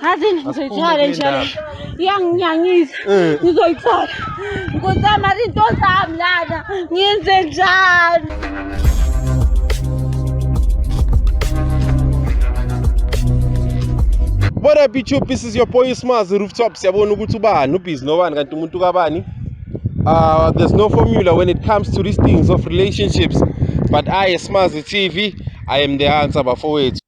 ngaze ngizoyithola njalo iyanginyangisa eh. ngizoyithola nkosama zinto zami lana ngiyenze njani What up YouTube this is your boy Smaz Rooftop siyabona ukuthi ubani ubhizi nobani kanti umuntu kabani uh, there's no formula when it comes to these things of relationships but I Smaz TV I am the answer bafowethu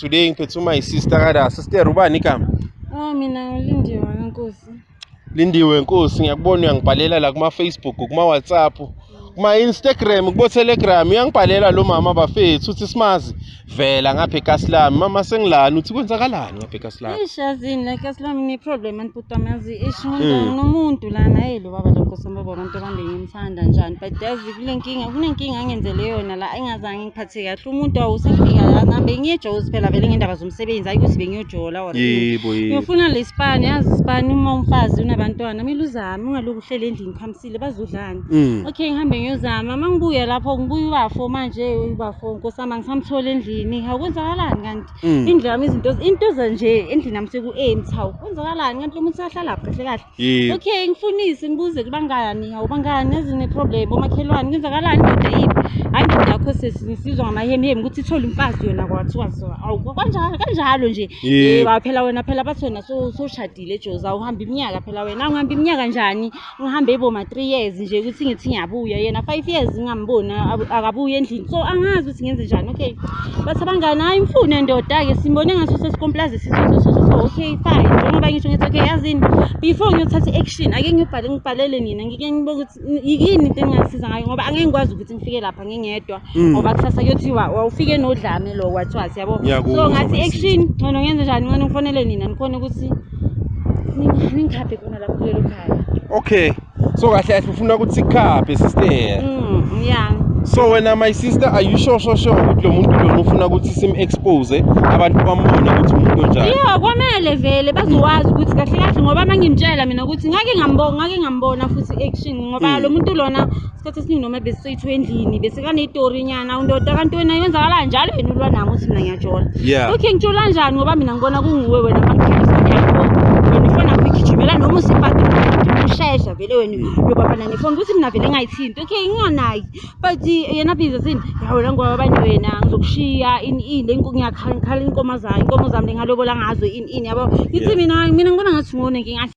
Today ngiphethe my sister kada sister ubani igama? Oh mina ngilindiwe nkosi. Lindiwe nkosi ngiyakubona uyangibhalela la kuma Facebook kuma WhatsApp kuma Instagram kubo Telegram uyangibhalela lo mama bafethu uthi simazi vela ngapha eKasilami mama sengilani uthi kwenzakalani ngapha eKasilami Eish yazini la Kasilami ne problem anibhutama yazi eish Hmm. umuntu nomuntu la naye lo baba lokho sambaba abantu abande ngimthanda njani but yazi kulenkinga kunenkinga angenzele yona la engazange phathe kahle umuntu awusafika lana bengiyejozi phela vele ngendaba zomsebenzi hayi ukuthi bengiyojola or yebo yebo ngiyofuna lesipani yazi isipani uma umfazi unabantwana kumele uzame ungalokhu uhlele endlini khamisile bazodlani Mm. okay ngihambe ngiyozama uma ngibuya lapho ngibuya ubafo manje ubafo nkosama ngisamthola endlini hawu kwenzakalani kanti Mm. indlu yami izinto into zanje endlini yami seku-empty hawu kwenzakalani kanti lo muntu usahlala kahle kahle Yebo. Okay, ngifunise ngibuze kubangani, awubangani yazi ne-problem bomakhelwane kwenzakalani indoda yiphi? Hayi indoda yakho sesi ngisizwa ngamahemihemi ukuthi ithole umfazi yona kwathiwa so awu kanjalo kanjalo nje. Yebo. Yebo hayi phela wena phela bathi wena so- soshadile Jozi awuhambi iminyaka phela wena angihambi iminyaka njani ngihambe iboma 3 years nje ukuthi ngithi ngiyabuya yena 5 years ngingamboni abu- akabuyi endlini so angazi singenze njani okay bathi abangani hayi mfune ndoda-ke simbone ngaso sesikomplazi sisososoo okay fine njengoba ngisho ngithi okay yazini before ngiyothatha i-action ake ngibhale ngibhalele nina ngike ngibone ukuthi yini into engingasiza ngayo ngoba angeke ngikwazi ukuthi ngifike lapha ngingedwa mm. ngoba kusasa kuyothiwa wawufike nodlame lo kwathiwa siyabo so ngathi i-action ngcono ngenze njani ngcono ngifonele nina nikhona ukuthi ningikhaphe khona lapho kulelo khaya okay so kahle kahle ufuna ukuthi sikhaphe sister mm yeah so wena my sister are you sure sure sure ukuthi lo muntu lona ufuna ukuthi sim expose abantu bambone ukuthi umuntu onjani yeah kwamele vele bazowazi ukuthi kahle kahle ngoba mangimtshela mina ukuthi ngake ngambona ngake ngambona futhi action ngoba mm. lo muntu lona isikhathi esiningi noma besisethu endlini besekaneyitori nyana undoda kanti wena yenzakala njalo yena ulwa nami uthi mina ngiyajola yeah. okay ngitshola njani ngoba mina ngibona kunguwe wena ngigijimela noma usibhadi ushesha vele wena uyobabana nefoni ukuthi mina vele ngayithinti okay nginganaki but yena biza sini yawela ngoba abanye wena ngizokushiya ini ini ngiyakhala inkomo zami inkomo zami lengalobola ngazo ini ini yabo ngithi mina mina ngibona ngathi ngone ngingathi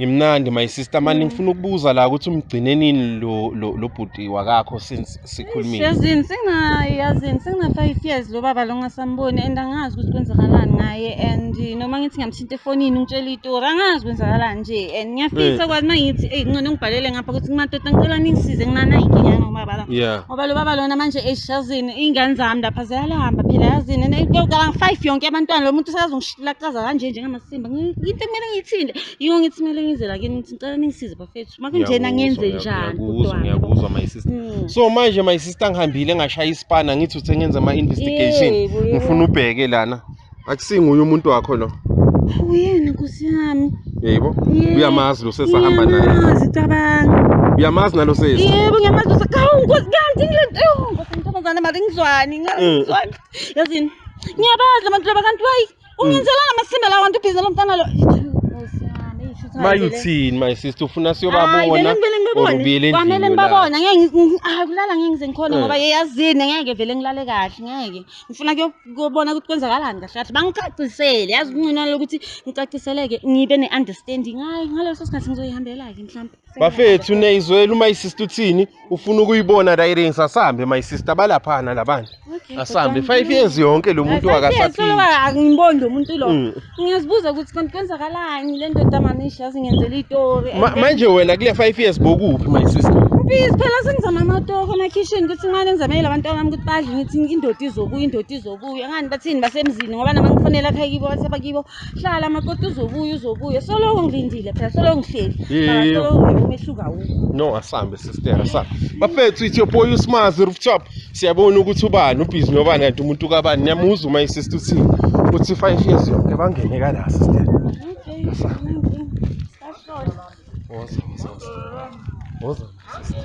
Ngimnandi my sister mani mm. ngifuna ukubuza la ukuthi umgcine nini lo lo, lo bhuti wakakho since sikhulumile. Yazini singa yazini singa 5 years lo baba lo ngasamboni and angazi ukuthi kwenzakalani ngaye and eh, noma ngithi ngamthinta efonini ngitshela itori angazi kwenzakalani nje and ngiyafisa eh. kwathi mangithi ey ngcono ngibhalele ngapha ukuthi kumatota ngicela ningisize nginana inkinga ngobaba la. Ngoba lo baba lona manje eshazini ingane zami lapha ziyalahamba phela yazini and eh, ngicela 5 yonke abantwana lo muntu usazongishilaqaza kanje njengamase Simba into kumele ngiyithinte yiyo ngithi kumele ngizela kini ngithi ngicela ningisize bafethu makunjena ngenze njani kodwa ngiyakuzwa my sister hmm. so manje my sister ngihambile ngashaya isipana ngithi uthe ngenza ama investigation ngifuna ubheke lana akusinguye umuntu wakho lo uyena nkosi yami yebo uyamazi lo sesahamba naye uyazi cabanga uyamazi nalo sesi yebo ngiyamazi usakawu nkosi kanti ngilento nkosi ntombazane mali ngizwani ngizwani hmm. yazini ngiyabazi labantu laba kanti wayi Ungenzelana amasimba lawa nto ubhizi lomfana lo. mayuthini my sister ufuna siyobabona or ubuyele kwamele ngibabona ngeke hayi kulala ngeke ngize ngikhona ngoba eh. yeyazini ngeke vele ngilale kahle ngeke ngifuna kuyobona ukuthi kwenzakalani kahle kahle bangicacisele yazi kuncinana lokuthi ngicaciseleke ngibe ne-understanding hayi ngaleso sikhathi ngizoyihambela-ke mhlawumbe bafethu neyizwela uma isister uthini ufuna ukuyibona la iring sasambe my sister balaphana labana asambe 5 years yonke lo muntu akasaphili angiboni lo muntu lo mm. ngiyazibuza ukuthi kanti kwenzakalani le ndoda manisha zingenzela itori manje wena kule 5 years bokuphi my sister Please phela sengizama amatoko ama kitchen ukuthi ngane ngizamele abantu abami ukuthi badle ngithi indoda izobuya indoda izobuya ngani bathini basemzini ngoba nama ngifonela ekhaya kibo bathi abakibo hlala makoti uzobuya uzobuya soloko ngilindile phela soloko ngihleli Yebo. soloko ngeke umehluka wukho no asambe sister asambe bafethu ithi yoboy usmazi rooftop siyabona ukuthi ubani ubhizi nobani kanti umuntu kabani niyamuza uma isister uthi uthi five years yonke bangene kala sister woza woza woza woza sister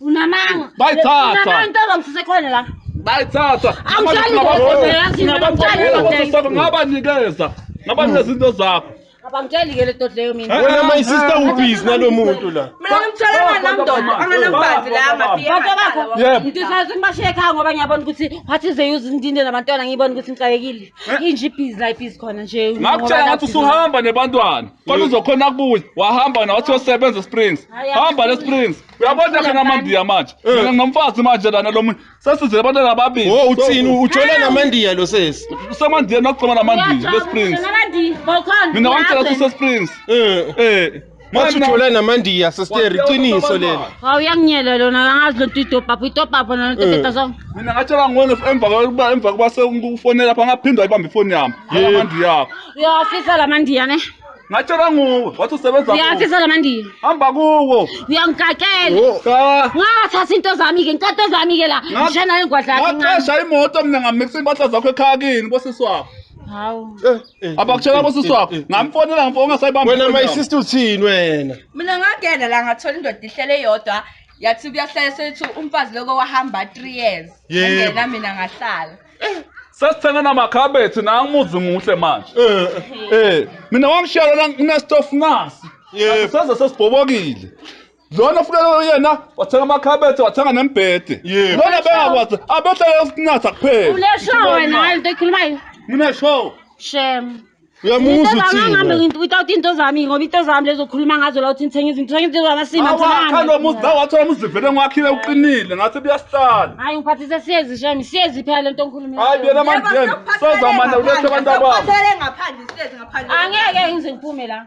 Unamanga. Bayithatha. Unamanga into ozongisusa ekhona la. Bayithatha. Awuhlali ngeke. Ngabanikeza. Ngabanikeza into zakho. Abangitsheli ke le dot leyo mina. Eh, Wena eh, my eh, sister ubhizi nalomuntu la. Mina ngimtshela namdoda anganambanzi la amabiye. Kodwa bakho ngidisayise ngibashiye ekhaya ngoba ngiyabona ukuthi wathi ze use indinde nabantwana ngiyibona ukuthi ngixakekile. Inje ibhizi la ibhizi khona nje. Ngakutshela ngathi usuhamba nebantwana. Kodwa uzokhona kubuya. Wahamba na wathi usebenza Springs. Hamba le Springs. uyabona Ngifuna kangamandiya manje Eh. mina nginomfazi manje lana lo muntu sesizele abantwana ababili Oh uthini ujola namandiya lo sesi. semandiya nokugcoma namandiya lesprings mina wangitshela ukuthi usesprings Eh. eh Manje ujola namandiya sister iqiniso lelo. hawu yanginyela lona kangazi lo nto idobhapha idobhapha nona nto Eh. teta so mina ngatshela ngone emva kokuba emva kokuba sekufonela pha ngaphindwa ibamba ifoni yami Yebo. amandiya yakho uyawafisa la mandiya ne Ngatshelwa nguwe wathi usebenza Ngiyafisa lamandiya. Hamba kuwo. Uyangigakela. Oh, cha. Ngathatha into zami ke, ngithatha zami ke la. Nga- Ngishena ingwadla yakhe incane. Ngaqesha imoto mina ngamixa impahla zakho ekhaya kini bosisi wakho. Hawu. Eh, Abakutshela bosisi wakho. Ngamfonela ngifo ungasayibamba. Wena my sister uthini wena? mina ngagenda la ngathola indoda ihlele yodwa yathi kuyahlala sethi umfazi loko wahamba 3 years Yebo. angena mina ngahlala sesithenga namakhabethi naye umuzi muhle manje eh, eh. eh mina wangishiya lona nginestove nasi seze sesibhobokile lona futhi yena wathenga amakhabethe wathenga nembhede lona bengakwazi abehlele ukunatha kuphela uneshow wena hayi into ekhulumayo uneshow shem uyamuzwa uthini ngithi without into zami ngoba into zami lezokhuluma ngazo la uthi ngithenga izinto ngithenga izinto zami asima ngithenga lo muzi la wathola umuzi vele ngwakhile uqinile ngathi buyasihlala hayi ngiphathise siyezi shami siyezi phela lento ngikhuluma hayi yena manje yena soza manje ulethe abantu ababo ngaphandle siyezi ngaphandle angeke ngize ngiphume la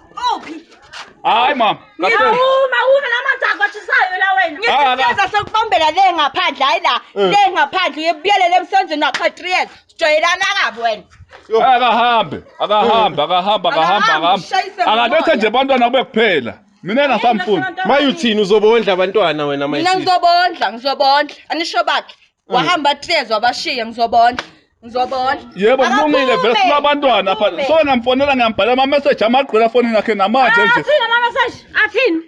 Uphi? Hayi mama. Ngiyawuma uma namanzi akwashisayo la wena. Ngiyeza sokubambela le ngaphandle hayi la. Eh. Le ngaphandle uyebuyelele emsenzweni wakho 3 years. Sijwayelana kabi wena. Akahambe, akahambe, eh. akahambe, akahambe, akahambe. Akabethe nje abantwana kube kuphela. Mina ngasamfuni. Mayuthini uzobondla abantwana wena mayisi. Mina ngizobondla, ngizobondla. Anisho bakhe. wahamba hlezi wabashiya ngizobona ngizobona yebo kulungile vele sinabantwana apha so ngamfonela ngiyambhala ama-message amagqwela afonini yakhe namanje nje athini ama-message athini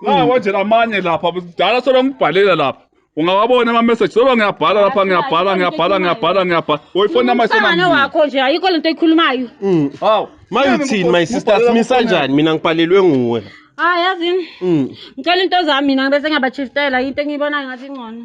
nawo nje namanye lapha kudala solo ngibhalela lapha ungawabona ama-message solo ngiyabhala lapha ngiyabhala ngiyabhala ngiyabhala ngiyabhala woyifoni umsangano amayisona wakho nje ayikho lento oyikhulumayo Mm. hawu mayithini my sister simisa kanjani mina ngibhalelwe nguwe hayi yazini Mm. ngicela into zami mina bese ngiyabachiftela into engiyibonayo ngathi ingcono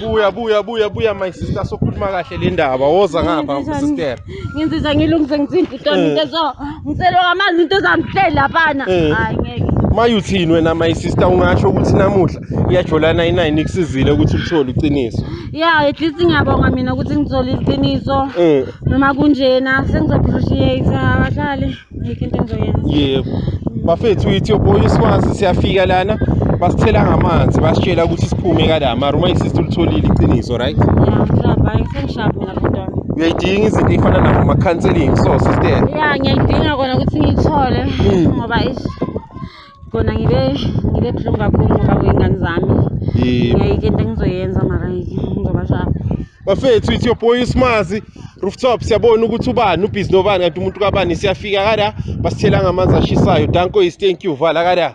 buya buya buya buya my sister sokhuluma kahle le ndaba woza ngapha sister ngenzisa ngilungise ngithinta utona eh. into so ngicela wamanzi into ezangihlela laphana eh. hayi ngeke mayuthini wena my sister ungasho ukuthi namuhla iyajolana inayini kusizile ukuthi uthole iqiniso ya at least ngiyabonga mina ukuthi ngithole iqiniso eh. noma kunjena sengizophushiye isahlale Ayikho into engizoyenza. yebo bafethu ithi oboya iswazi siyafika lana basithela ngamanzi basitshela ukuthi siphume kala mara uma isisi ulitholile iqiniso right Yeah, ngishaba, hayi sengishaba mina bhuti wami. uyayidinga izinto ey'fana nabo ma-counseling so sister Yeah, ngiyayidinga kona ukuthi ngiyithole Mm. ngoba ish kona ngibe ngibe buhlungu kakhulu ngoba kwey'ngane zami yebo ngiyayike into engizoyenza mara ngizobashaya bafethu it's your boy usimazi rooftop siyabona ukuthi ubani ubhizi nobani kanti umuntu kabani siyafika kada basithela ngamanzi ashisayo danko is thank you vala kada